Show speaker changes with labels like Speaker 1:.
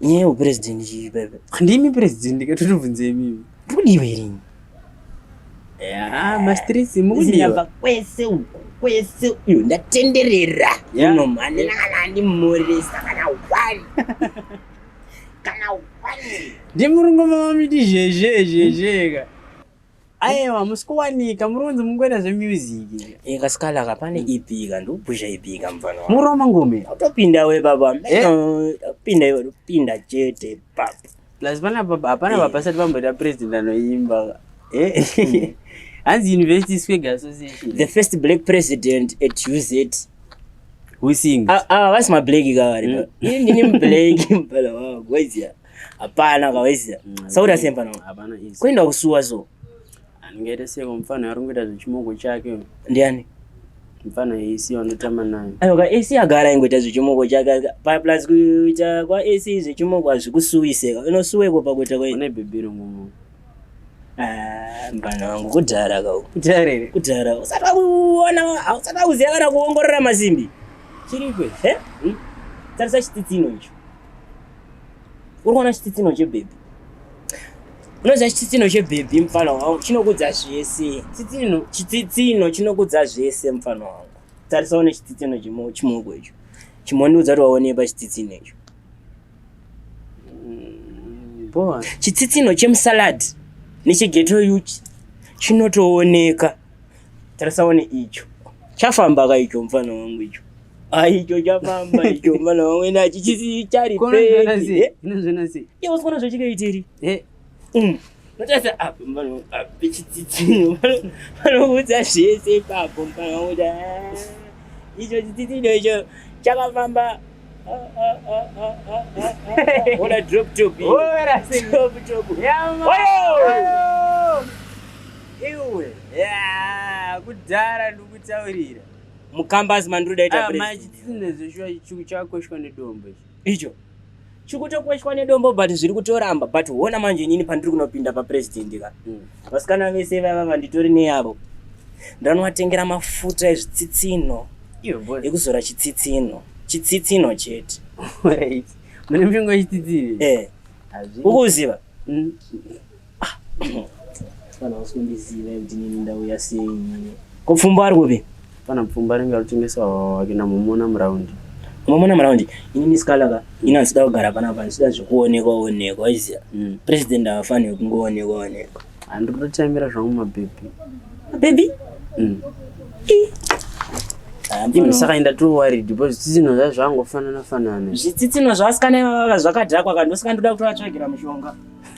Speaker 1: Nyewe upresident chii bebe? Ndimi president
Speaker 2: ke totobvunze mimi. Kudiwe rini?
Speaker 1: Yeah, ma
Speaker 2: streets mukudiwa. Zingava kwese uko.
Speaker 1: Kwese uyo ndatenderera. Yeah. No man, kana ndi moresa kana wani. kana wani. Ndi murungu mama
Speaker 2: miti jeje jeje ka. Aiwa musikuwanika muri kunzi mungoita zvemusic. Eh kasikala ka pane
Speaker 1: EP ka ndikupusha EP ka mfana wangu. Muri wamangome.
Speaker 2: Utopinda we baba.
Speaker 1: Eh? Pinda iwe pinda chete baba. Plus pana baba
Speaker 2: hapana eh. baba sati vamboita president anoimba. Eh. Hmm. Hanzi University Swag Association. The first black
Speaker 1: president at UZ. Who
Speaker 2: sings? Ah, ah, what's my black guy?
Speaker 1: Hmm. Ini ni black mpala wangu. Why is that? hapana kawaiziva mm, sauta semba no hapana izi kuenda kusuwa
Speaker 2: so
Speaker 1: angaita
Speaker 2: seko mfana ari kuita zvechimoko chake ndiani
Speaker 1: mfana
Speaker 2: ac wanotama nayo ayo ka ac agara
Speaker 1: ingoita zvechimoko chake pa plus kuita kwa ac zvechimoko hazvikusuwiseka inosuweko pakuita kwa une bhibhiro ngomo
Speaker 2: Ah,
Speaker 1: mfana wangu kudhara kau kudhara here kudhara
Speaker 2: usati
Speaker 1: wakuona hausati wakuziva kana kuongorora masimbi chirikwe he
Speaker 2: hmm?
Speaker 1: tarisa chitsitsino icho uri kuona chitsitsino chebhebhi unoziva chitsitsino chebhebhi mufana wangu chinokudza zvese chitsitsino chitsitsino chinokudza zvese mufana wangu tarisawo nechitsitsino chimoko icho chimondiudza kuti waonei pachitsitsino icho
Speaker 2: mm, chitsitsino
Speaker 1: chemusalad nechegeto yuchi chinotooneka tarisawo neicho chafamba ka icho mufana wangu icho aicho ah, chafamba icho mana vamwene achichisi charipeeuzvona
Speaker 2: sei iye usikuona zvachikaitiri
Speaker 1: notasa apo pechitsitsino vanoudza zvese ipapo mpana vakuti ah, icho chitsitsino icho chakafamba ona drop top drop
Speaker 2: top iwe kudhara ndikutaurira mukambas
Speaker 1: mandirodaita chiku
Speaker 2: chakweshwa nedombo icho
Speaker 1: chikutokweshwa nedombo but zviri kutoramba but hona manje inini pandiri kunopinda papresident ka hmm. vasikana vese vava vanditori neyavo ndanovatengera mafuta ezvitsitsino ekuzora chitsitsino chitsitsino chete
Speaker 2: mune mishonga yechitsitsino eh. ukuziva
Speaker 1: hmm. Kana usindiziva kuti nini ndau yasei. Ko pfumba ari kupi? Kana pfumba ringe
Speaker 2: ritengesa wake na mumona muraundi. Mumona muraundi.
Speaker 1: Ini ni skala ka. Ina sida kugara pana pa sida zvikuoneka oneka. Waisi. Mm. President afani kungooneka oneka. Andri kutochambira
Speaker 2: zvangu ma baby. Ma
Speaker 1: baby?
Speaker 2: Mm. Ndimi saka inda too worried because zvitsidzino zvacho zvakangofanana fanana. Zvitsidzino zvasikana
Speaker 1: ivava zvakadhakwa kandosingandoda kutovatsvagira mushonga.